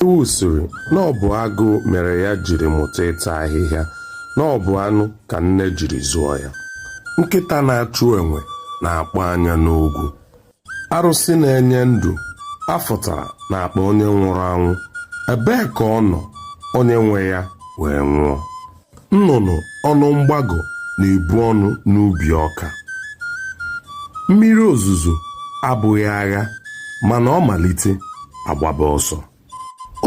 Ewu sịrị na ọ bụ agụụ mere ya jiri mụta ịta ahịhịa na ọ bụ anụ ka nne jiri zụọ ya. Nkịta na-achụ enwe na-akpọ anya n'ogwu. Arụsị na-enye ndụ afụtara n'akpa onye nwụrụ anwụ. Ebee ka ọ nọ onye nwe ya wee nwụọ? nnụnụ ọnụ mgbagọ na-ebu ọnụ n'ubi ọka mmiri ozuzo abụghị agha mana ọ malite agbaba ọsọ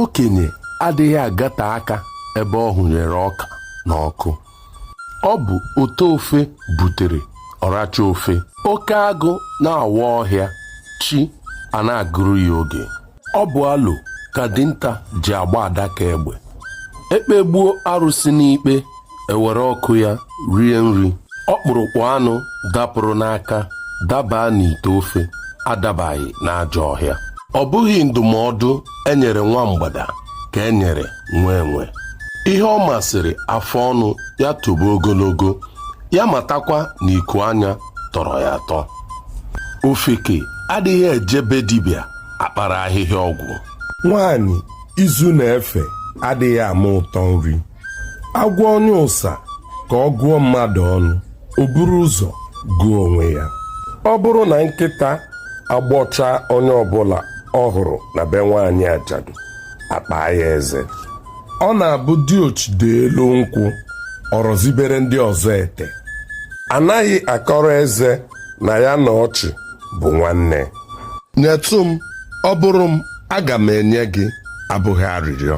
okenye adịghị agata aka ebe ọ hụnyere ọka n'ọkụ ọ bụ ote ofe butere ọracha ofe oke agụ na-awa ọhịa chi a na-agụrụ ya oge ọ bụ alo ka dinta ji agba adaka egbe ekpegbuo arụsị n'ikpe ewere ọkụ ya rie nri ọkpụrụkpụ anụ dapụrụ n'aka dabaa n'ite ofe adabaghị n'ajọ ọhịa ọ bụghị ndụmọdụ enyere nwa mgbada ka enyere nwa enwe ihe ọ masịrị afọ ọnụ ya tobe ogologo ya matakwa na iku anya tọrọ ya atọ ofeke adịghị eje be dibịa akpara ahịhịa ọgwụ nwaanyị izu na-efe adịghị ama ụtọ nri agwa onye ụsa ka ọ gụọ mmadụ ọnụ o buru ụzọ gụọ onwe ya ọ bụrụ na nkịta agbọcha onye ọbụla ọ hụrụ na be nwaanyị ajadu akpaa ya eze ọ na-abụ diochi daa elu nkwụ ọ rọzibere ndị ọzọ ete anaghị akọrọ eze na ya na ọchị bụ nwanne nyetụ m ọ bụrụ m aga m enye gị abụghị arịrịọ